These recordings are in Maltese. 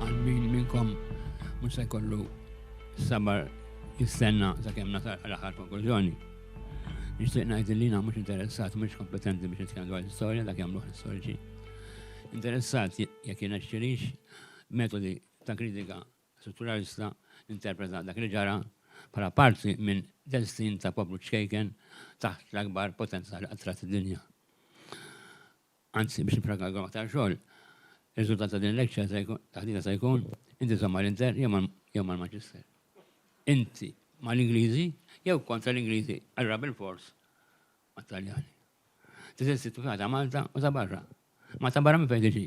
Għalmin minnkom mhux se jkollu sabar jistenna sakemm nasal l-aħħar konklużjoni. Nixtieq ngħid li jiena mhux interessat mhux kompetenti biex nitkellem dwar l-istorja dak jagħmlu l-istoriċi. Interessat jekk jiena xtirix metodi ta' kritika Struturalista interpreta dak li ġara bħala parti minn destin ta' poplu ċkejken taħt l-akbar potenza li qatt rat id-dinja. Anzi, biex nippragagom aktar xogħol, ir-riżultat ta' din il-lekċa se jkun, taħdita se jkun, inti żomm mal-Inter jew mal, jew mal-Manchester. Inti mal-Ingliżi jew kontra l-Ingliżi, allura bilfors mat-Taljani. Teżisti t-tifħa ta' Malta u ta' barra. Ma ta' barra minn fejn tiġi?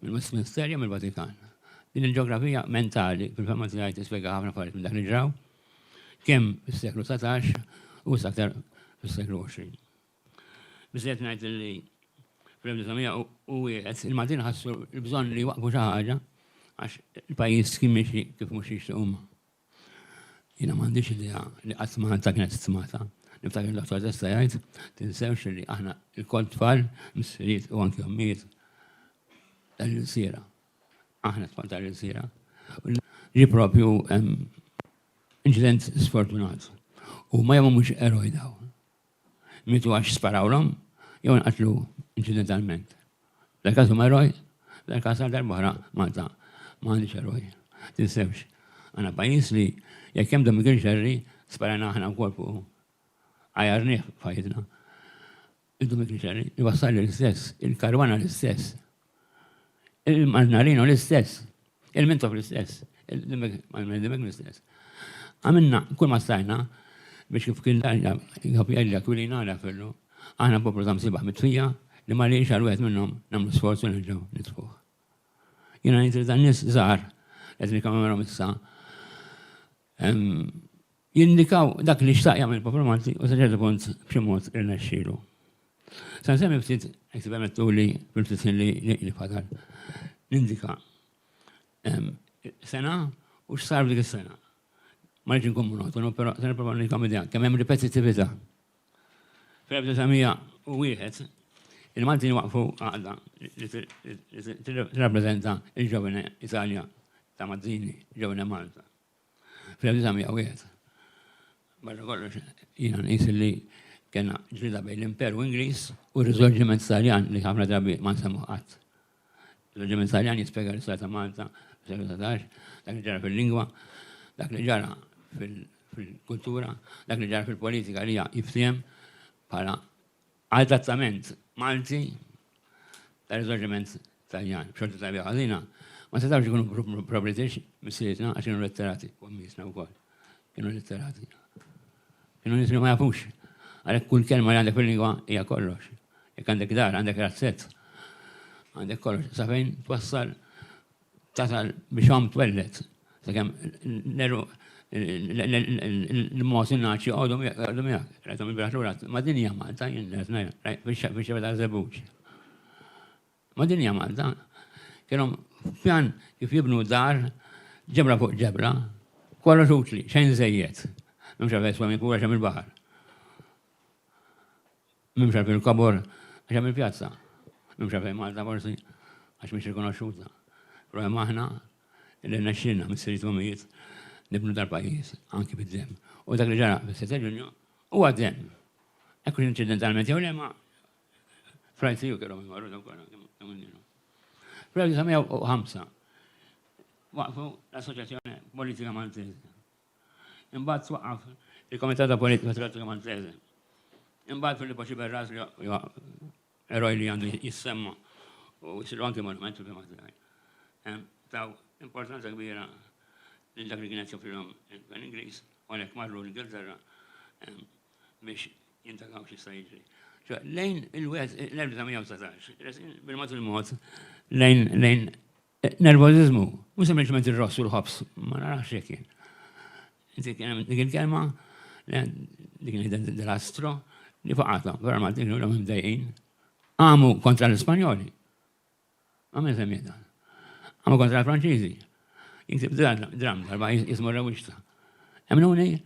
Mill-Westminster jew mill-Vatikan? Din il-ġeografija mentali, fil-fehma tiegħi tispjega ħafna affarijiet minn dak li ġraw, kemm fis-seklu dsatax u issa aktar fis-seklu għoxrin. Biżżejjed ngħid li fl-1901 il-Maltin ħassu l-bżonn li jwaqqfu xi ħaġa għax il-pajjiż kien miexi kif mhux jixtiequ huma. Jiena m'għandix idea li qatt Malta kienet stmata. Niftakar Dottor Testa jgħid, tinsewx li aħna lkoll tfal, missirijiet u anki ommijiet tal-ilsiera. Aħna tfal tal-ilsiera. Ġie proprju inċident sfortunat. Huma jew mhumiex eroj dawn? Mietu għax sparawlhom jew nqatlu inċidentalment. Dal-każ huma eroj, dal-każ għal darb'oħra Malta ma għandhiex eroj. Tinsewx, għandna pajjiż li jekk hemm Domigen Xerri sparajna aħna wkoll fuqu. Għajjarnieh f'ħajjitna. Il-Domigen Xerri jwassal lill-istess, il-karwana l-istess. Il-Marinarin hu l-istess. Il-Mintoff l-istess. Il-Dimek l-istess. Għamilna kull ma stajna biex kif kien darja, kif jgħidla kwilin għala fillu, għana poplu ta' msibaħ mitfija li ma li xar wieħed minnhom nagħmlu sforz u nerġgħu nitfuh. Jiena ngħid li dan nies żgħar qed nikkommemorom issa jindikaw dak li xtaq jagħmel il-poplu Malti u sa ċertu punt b'xi mod irnexxielu. Se nsemmi ftit, jekk tippermettuli, fil-ftit ħin li fadal, nindika sena u x'sar f'dik is-sena. Ma rridx inkun monotonu, però se nipprova nagħtikom idea kemm hemm ripetittività. Fl-1901, il-Maltin waqqfu għaqda li tirrappreżenta l-Giovane Italia ta' Mazzini, Giovane Malta. Fl-1901, barra kollox, jiena nqis li kena ġlida bejn l-Imperu Ingliż u r-Riżorġiment Taljan li ħafna drabi ma nsemmu qatt. L-Riżorġiment Taljan jispjega l-istorja ta' Malta fil-seklu 19, dak li ġara fil-lingwa, dak li ġara fil-kultura, dak li ġara fil-politika li hija jiftiem bħala Għal trattament Malti ta' riżorġiment Taljan b'xorti tajba jew ħażina, ma setgħux ikunu pro-British missirietna għax kienu letterati, u għammiesna wkoll kienu letterati. Kienu nies li ma jafux. Għalhekk kull kelma li għandek fil-lingwa hija kollox. Jekk għandek dar, għandek razzett, għandek kollox. Sa fejn twassal tasal biex omm twelled, sakemm l-għeruq l-mod in-ngħaġ joqogħdu miegħek. Rajthom ilbieraħ lura, ma' din hija Malta jien li qed ngħid, fix-xebgħa taż-żebbuġ. Ma' din hija Malta. Kellhom pjan kif jibnu dar, ġebla fuq ġebla, kollox utli, xejn żejjed. M'hemmx għalfejn jiswa minn kura xejn mill-baħar. Nimxi f'din il-kobor għax hemm il-pjazza. Nimxi fejn Malta forsi għax mhix rikonoxxuta. Però hemm aħna li rnexxielna missirijiet u ommijiet nibnu dal-pajjiż anki bid-demm. U dak li ġara fis-sitt ta' Ġunju huwa d-demm. Hekk hux inċidentalment jew le imma fl-ICU kellhom imorru dawk kollha kemm kienu. Fl-1905 waqqfu l-Assoċjazzjoni Politika Maltesa. Imbagħad twaqqaf il-Komitat ta' Politika Tratturi Maltese. Imbagħad Filippo Ciberras li huwa eroj li għandu jissemma u jsiru anki monument fil-fema tiegħi. Taw importanza kbira lil dak li kienet joffrilhom il-Gvern Ingliż u għalhekk marru l-Ingilterra biex jintakaw x'jista' jiġri. Lejn il-wieħed l-1919, bil-mod il-mod lejn Nervożiżmu, mhux sempliċement ir-ross u l-ħobż, ma narax jekk jien. Inti kien hemm dik il-kelma, dik il-astro, li faqathom, vera ma dik l-għom imdejqin. Għamu kontra l-Ispanjoli. Għamil semmieta. Għamu kontra l-Franċiżi. Jiktib dram darba jismu r-rewixta. Emnuni,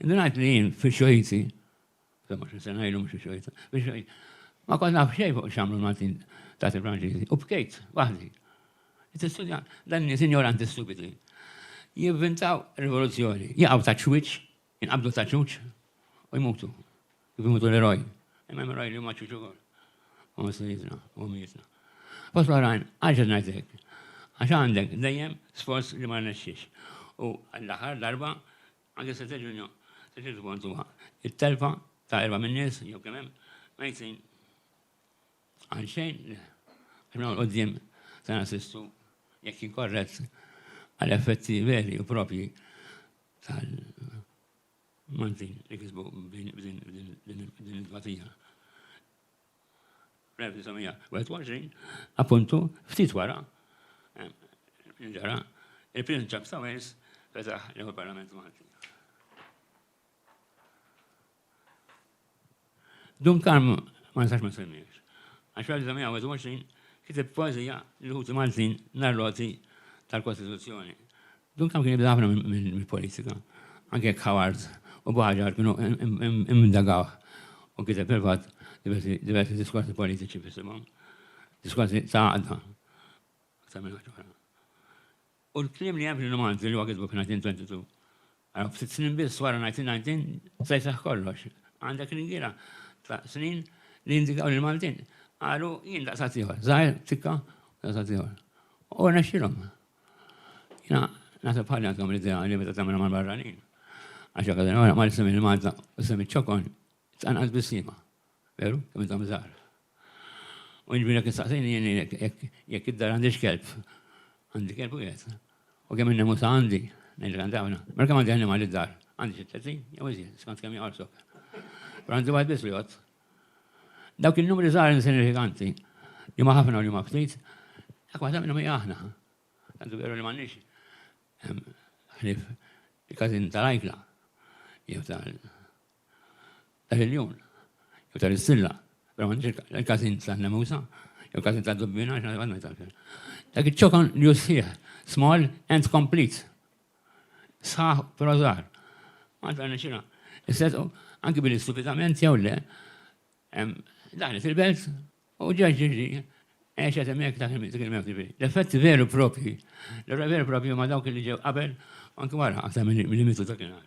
indunajt li jien fi xojti 25 sena ilu mhux xojta. Ma kont naf xejn fuq x'għamlu l-Maltin ta' il-Franċiżi. U bkejt waħdi. Tistudja dan nies injoranti stupidi. Jivvintaw rivoluzzjoni, jaqgħu ta' ċwiċ, jinqabdu ta' ċuċ u jmutu. Kif jmutu l-eroj. Imma hemm eroj li huma ċuċ ukoll. U missirietna, u mietna. Fost l-oħrajn, għax qed ngħid hekk. Għax għandek dejjem sforz li ma rnexxiex. U l-aħħar darba Anke s-Sitt Ġunju se tiġi kontuha t-telfa ta' erba' min-nies jew kemm hemm mejtin għal xejn għax minn hawn 'l quddiem se nassistu, jekk inkorrett, għal effetti veri u proprji tal-Maltin li kisbu b'din it-tbatija. 1921, appuntu, ftit wara, ġara, il-Prince Charles ta' Wales fetaħ l-ewwel Parlament Malti. Dun Karm ma nistax ma semmiex. Għax 1921 kiteb poezija l-ħuti Maltin narroti tal-Kostituzzjoni. Duncan kien jibża' ħafna mill-politika, anke jekk Howard u Bohagiar kienu imdagawh u kiteb fil-fatt diversi diskorsi politiċi f'isimhom, diskorsi ta' għaqda aktar minn ħaġa oħra. U l-kliem li hemm fil-rumanzi li huwa kitbu fin-1922, ara ftit snin biss wara 1919 se jseħħ kollox. Għandek ringiera ta' snin li jindikaw li l-Maltin qalu jien daqshekk ieħor, żgħir, tikka, daqshekk ieħor. U rnexxielhom. Jina, nasab ħalli għandkom l-idea li meta tagħmilha mal-barranin. Għax jekk għadin wara mal-isem il-Malta u sem iċ-ċokon, tqanqas bis-sima. Veru? Kemm intom żgħar. U jiġri jekk istaqsejni jien jekk id-dar għandix kelb. Għandi kelb u jgħid. U kemm innem usa għandi, ngħidlek għandi għawna. Mela kemm għandi għannimal id-dar? Għandi xi 30 jew iżjed, skont kemm jgħorsok. Għandi wieħed biss li jgħodd. Dawk in-numri żgħar insinifikanti, li ma ħafna u li ma ftit, dak waħda minnhom hija aħna. Tant hu veru li m'għandniex ħlief il-każin tal-ajkla jew tal-iljun jew tal-issilla, però m'għandniex il-każin tan-nemusa jew il-każin tad-dubbina għax għadna jtalfel. Dak iċ-ċokon li hu sħiħ, small and complete. sħaħ però żgħar. Malta rnexxilha isseddqu anki billi stupidament jew le daħlet il-belt u ġeġ ġiġi għexet hemmhekk dak il-mewt ġifieri. L-effetti veru propri, l-ewwel veru propri huma dawk li ġew qabel anki wara aktar milli mitu dak il-nar.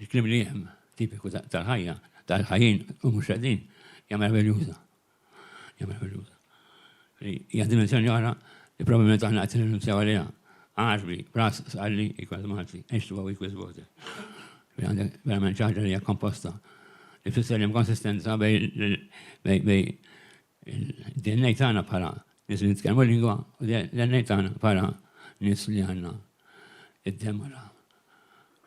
Il-kliem li hemm, tipiku tal-ħajja, tal-ħajjin u mhux qegħdin, hija meraviljuża. Hija meraviljuża. Hija dimensjoni oħra li probabbilment aħna qed nirrinunzjaw għaliha. Għarbi, bras, sqalli, equals Malti, ex tuwa equals water. Għandek verament ċaħġa li hija komposta. Ifisser li hemm konsistenza bej Il-DNA tagħna bħala nies li nitkellmu lingwa u l-DNA tagħna bħala nies li għandna id-demara.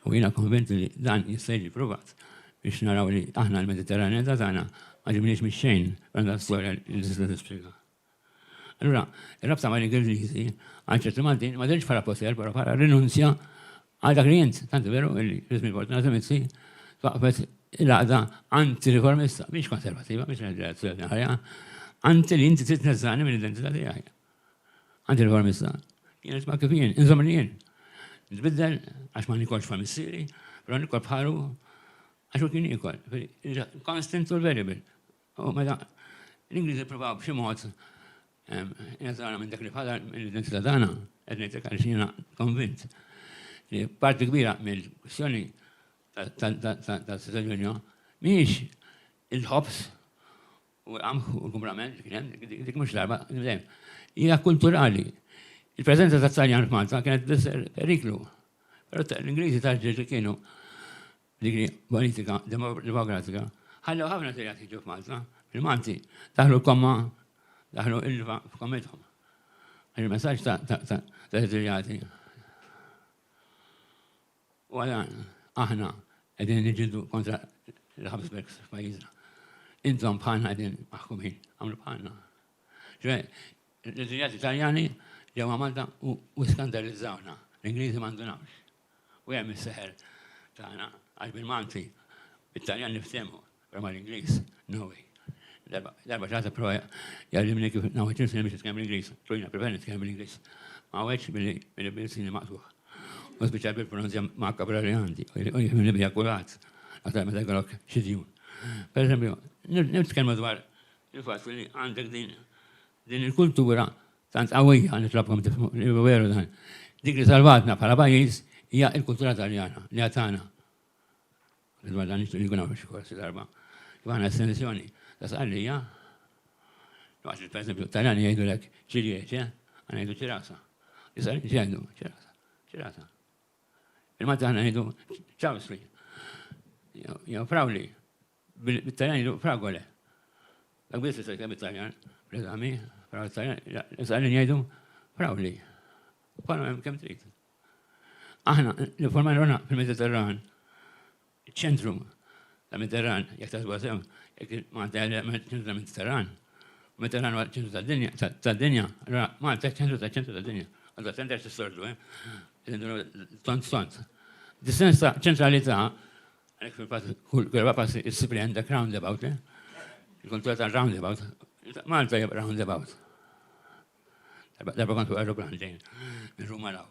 U jiena konvent li dan jista' jiġi provat biex naraw li aħna l-Mediterranjeta tagħna ma ġibniex mix-xejn għandha storja li tista' tispjega. Allura, ir-rabta mal-Ingliżi għal ċerti Maltin ma dirx bħala poter, però bħala rinunzja Għal dak li int, tant veru illi ridt mill-fortunata mizzi, twaqqfet il-għaqda anti-riformista, mhix konservativa, mhix reazzjoni ħajja, anti li inti trid tneżżani mill-identità tiegħi. Anti-riformista. Kienet ma kif jien, inżomm li jien. Nbiddel għax ma nikolx fa' missieri, però nikol bħalu għax u kien ikol. Constant u variable. U meta l-Ingliżi ppruvaw b'xi mod jazzarawna minn dak li bħala l-identità tagħna, qed ngħidlek għaliex jiena konvint li parti kbira mill-kwistjoni tal-Siżiljonja mhijiex il-ħobż u l-qamħ u l-kumbrament kien hemm dik mhux darba dejjem. Hija kulturali. Il-preżenza tat-Taljan f'Malta kienet periklu. Però l-Ingliżi tal-ġeġ li kienu Dik hi politika demokratika. Ħallew ħafna sejjat jiġu f'Malta. Il-Malti daħlu komma, daħlu ilva f'kommithom. Il-messaġġ ta' Sirijati. U għala aħna qegħdin niġġieldu kontra l-ħabsbeks f'pajjiżna. Intom bħalna qegħdin maħkumin, għamlu bħalna. Ġwe, l-Sirijati Taljani ġewwa Malta u skandalizzawna. L-Ingliżi m'għandunawx. u hemm is-seħer tagħna għax bil-Malti, bit-Taljan niftehmu, però mal-Ingliż, no way. Darba ġata prova jgħallimni kif nawħet il-film biex nitkellem l-Ingliż, tlujna preveni nitkellem l-Ingliż. Ma għedx billi bil-sini maqtuħ. U spiċċa bil-pronunzja maqqa bra li għandi, u jifimni bija kulat, għatar meta jgħalok xidjun. Per eżempju, nitkellmu dwar il-fatt li għandek din Din il-kultura tant qawwija, nitlobkom tifhmuni li hu veru dan, dik li salvatna bħala pajjiż hija l-kultura Taljana li hija tagħna. Dwar dan nixtieq li jkun hawn xi korsi darba. Kif aħna estensjoni ta' Sqallija, waqt li pereżempju t-Taljani jgħidulek cilieċe, aħna ngħidu ċirasa. Is-Sqallin x'jgħidu? Ċirasa. Ċirasa. Il-Malti aħna ngħidu ċawsli. Jew frawli. Bit-Taljan jgħidu fragole. Dak biss jista' jitkellem bit-Taljan, l-eżami, però bit-Taljan, l-Italjan jgħidu frauli. Bħalhom hemm kemm trid. Aħna l-informajna ruħna fil-Mediterran, ċentru ta' Mediterran, jekk tasbu sew, jekk Malta hija ċentru ta' Mediterran, Mediterran huwa ċentru tad-dinja, tad-dinja, allura Malta ċentru ta' ċentru tad-dinja. Għadha tender tistordu, eh? Tont tont. Dis-sens ta' ċentralità Għalek fil-fat, kull darba passi issib li għandek roundabout, eh? Il-kontroll ta' roundabout. Malta jib roundabout. Darba kontu aeroplan ġejn, minn Ruma law.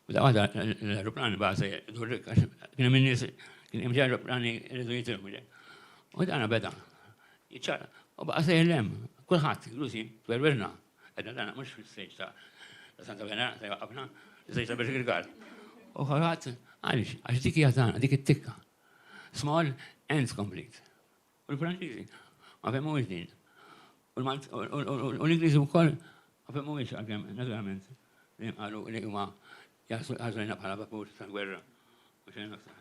U da għada l-aeroplan baħse durrik, kien minn nis, kien hemm aeroplani rridu jitilmu ġej. U dana beda, jċara, u baqa sejlem, kullħat, l-usi, twerwirna, Għedna dana mux fil-stage ta' Santa Venera, ta' jwaqqafna, fil-stage ta' Bishop Girgard. U kolħat, għalix, għax dik hija tagħna, dik it-tikka. Small and complete. U l-Franċiżi ma femmu din. U l-Ingliżi wkoll ma femmu għalkemm naturalment li qalu li huma jaħsbuna bħala vapur tal-gwerra. U xejn aktar.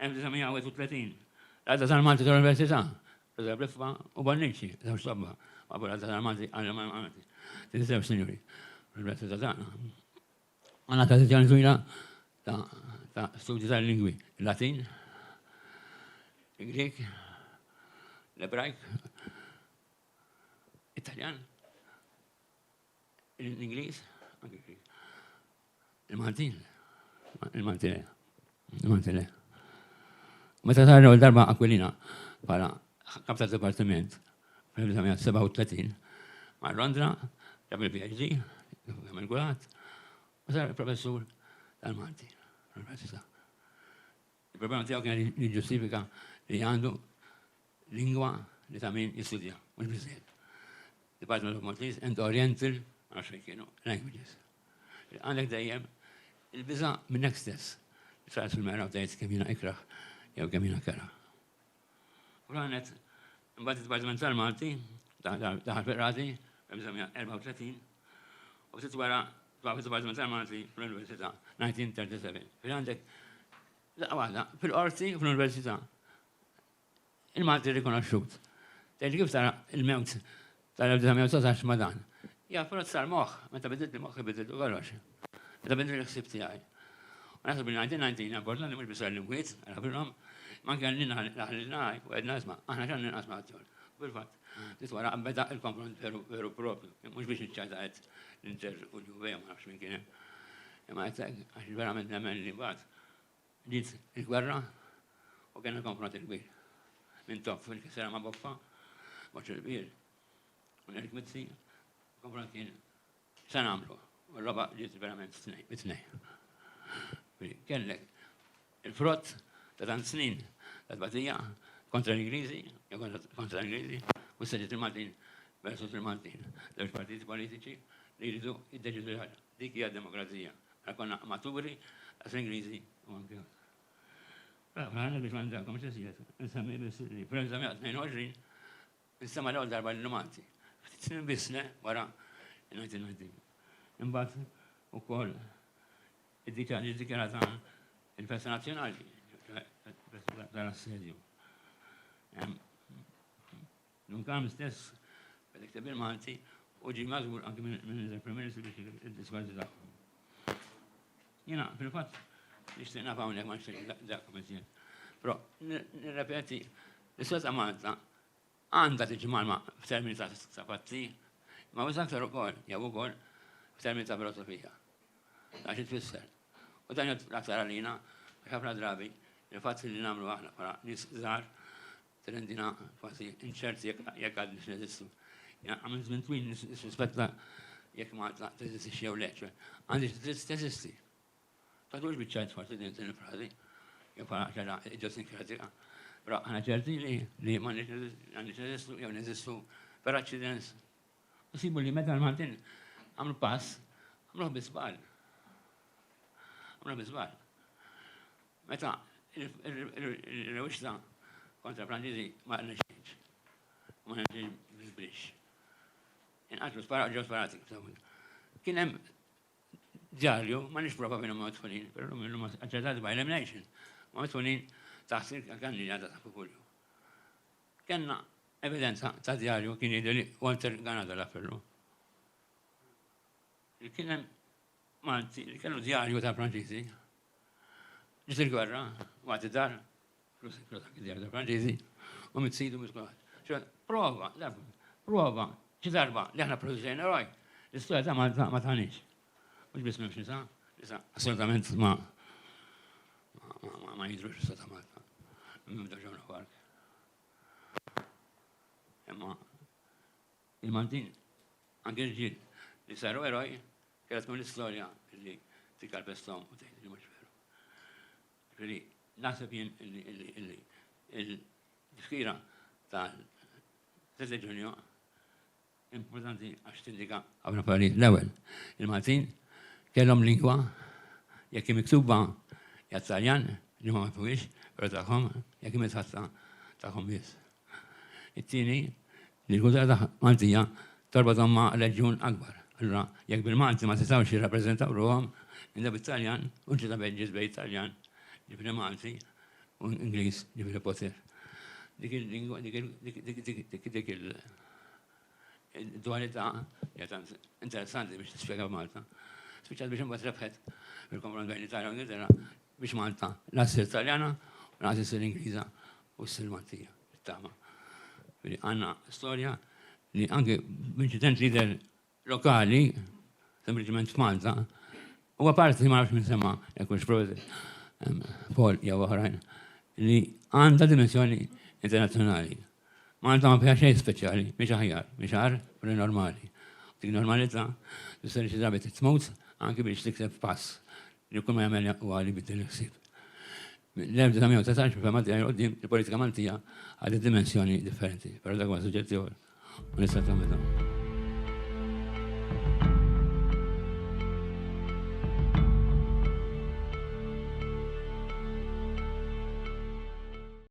1931, L-għaqda tal-Malti tal-Università, Ġożè Briffa u Bonnici, żewġ tobba, waqfu l-għaqda tal-Malti għall-Malti. Din iż-żewġ sinjuri fl-Università tagħna għandha tradizzjoni twila ta' studju tal-lingwi, il-Latin, il-Grieg, l-Ebrajk, it-Taljan, l-Ingliż, anki l-Grieg, Il-Maltin. Il-Malti le. Il-Malti le. Meta tarrew darba Aquilina bħala kap ta' dipartiment fl-1937 ma' Londra ġab il-PhD, għamil gulat, u sar professur tal-Malti. Il-problema tiegħu kienet li jiġġustifika li għandu lingwa li ta' min jistudja, mhux biżżejjed. Department of Maltese and Oriental, ma nafx fejn kienu, languages. Għandek dejjem il-biża' minnek stess. Tħares fil-mera u tgħid kemm jiena ikrah jew kemm jiena kera. U l-għanet, mbagħad id-Dipartiment tal-Malti, daħal fil-qrati, fl-1934, u ftit wara twaqqaf id-Dipartiment tal-Malti fl-Università, 1937. Fil għandek, daqqa waħda, fil-qorti u fl-Università, il-Malti rikonoxxut. Tgħid kif tara il-mewt tal-1919 ma' dan. Hija frott tal-moħħ, meta bidiltni moħħi bidiltu kollox. Meta bidiltni l-ħsieb tiegħi. U naħseb li ngħidilha din hija importanti mhux biss għall-imwiet, għal ħabiebhom, imma anke għal lilna li ħallilna u għedna isma' aħna x'għandna nqasmu għat-tjur. U fil-fatt, ftit wara beda l-konfront veru veru proprju, mhux biex niċċajta għedt l-Inter u l-Juve jew ma nafx min kien hemm. Imma għedt hekk għax verament nemmen li mbagħad Bdiet il-gwerra u kien hemm konfront kbir. Mintoff fil-kisra ma' Boffa, Boċċ il-Kbir, u Nel Kmizzi, il-konfront kien x'se nagħmlu. U l-logħba bdiet verament mit-tnejn. Kellek il-frott ta' tant snin ta' tbatija kontra l-Ingliżi, jew kontra l-Ingliżi, u s-seġġet il-Maltin versus il-Maltin. Żewġ partiti politiċi li jridu jiddeċidu xi ħaġa. Dik hija demokrazija. Aħna konna amaturi, għax l-Ingliżi u anke l-Amerikani biex ma nżagħilkomx iżjed, insemmi biss li fl-1922 insema' l-ewwel darba lil Malti. Ftit snin biss le wara in-1919. Imbagħad ukoll id-dita ġiet dikjarata il-festa nazzjonali, ċoħe il-festa tal-assedju. Dun Karm stess beda jikteb bil-Malti u ġie mażmur anki minn il-Prim Ministru biex jikteb id-diskorsi tagħhom. Jiena fil-fatt nixtieq naf hawnhekk ma nixtieq dak miżjed. Però nirrepeti, l-istoria ta' Malta għandha tiġi malma f'termini ta' fatti, ma wis aktar ukoll jew ukoll f'termini ta' filosofija. Ta' xi tfisser. U dan jgħid l-aktar għalina għax ħafna drabi il-fatt li nagħmlu aħna bħala nies żgħar Tirendina kważi inċerti jekk għadniex neżistu. Għamil żmien twil nissuspetta jekk Malta teżistix jew le, ċe għandix dritt teżisti. Tagħtux biċċa jitfar din il-frażi jew bħala ċara idiosinkratika. Però aħna ċerti li m'għandniex neżistu jew neżistu per accidents. U sibu li meta l-Maltin għamlu pass, għamluh biżbal. Għamluh biżbal. Meta r-rewixta kontra Franċiżi ma rnexxietx, u ma rnexxiex biżbrix. Inqatlu sparaw ġew sparati kif tafu. Kien hemm djarju, ma nix prova minn ma tfunin, per l-lum l-lum aċċettati by elimination, ma tfunin taħt il-kanni għadha ta' fukulju. Kenna evidenza ta' djarju kien jidri li Walter Ganada l-appellu. Kien hemm Malti li kellu djarju ta' Franċiżi. Ġiet il-gwerra, waqt id-dar, flus djarju ta' Franċiżi, u mit-sidu mit Prova, prova, xi darba li aħna produċejna roj, l-istorja ta' Malta ma tagħniex. Mhux biss m'hemmx nisa, nisa assolutament ma ma jidrux l-istorja ta' Malta. Minn daġġawna kwark. Imma Il-Maltin, anke l-ġid, li saru eroj, kellha tkun l-istorja li tikkalpesthom u tgħid li mhux veru. Ġifieri, naħseb jien li l-tifkira tal-3 Ġunju importanti għax tindika ħafna affarijiet. L-ewwel, il-Maltin kellhom lingwa jekk hi miktuba hija Taljan li ma mifhumhiex, però tagħhom jekk hi mitħatta tagħhom biss. It-tieni, li l-kultura Maltija torbotthom ma' reġjun akbar. Allura, jekk bil-Malti ma setgħux jirrappreżentaw ruħhom, inda bit-Taljan u l-ġita bejn bejn it-Taljan, ġifieri Malti, u Ingliż, ġifieri poter. Dik il-, dik il-, dik il-, dik il-, dik il-, Id-dualità hija tant interessanti biex tispjega f'Malta. Spiċċat biex imbagħad rebħet fil-konfront bejn l-Italja u l-Ingilterra biex Malta la ssir Taljana u lanqas issir Ingliża u ssir Maltija, bit-tama. Ġifieri għandna storja li anke b'inċident li jidher lokali, sempliċement f'Malta, huwa parti ma nafx minn semma jekk hux Prosit, Paul jew oħrajn, li għandha dimensjoni internazzjonali. Malta ma fiha xejn speċjali, mhix aħjar, mhix agħar, però hi normali. U dik normalità tfisser li xi drabi trid tmut anki biex tikseb pass li kull ma jagħmel huwa li jbiddel il-ħsieb. Mill-1919 fil-fehma tiegħi 'l quddiem il-politika Maltija ħadet dimensjoni differenti, però dak huwa suġġett ieħor u nista' nagħmel dan.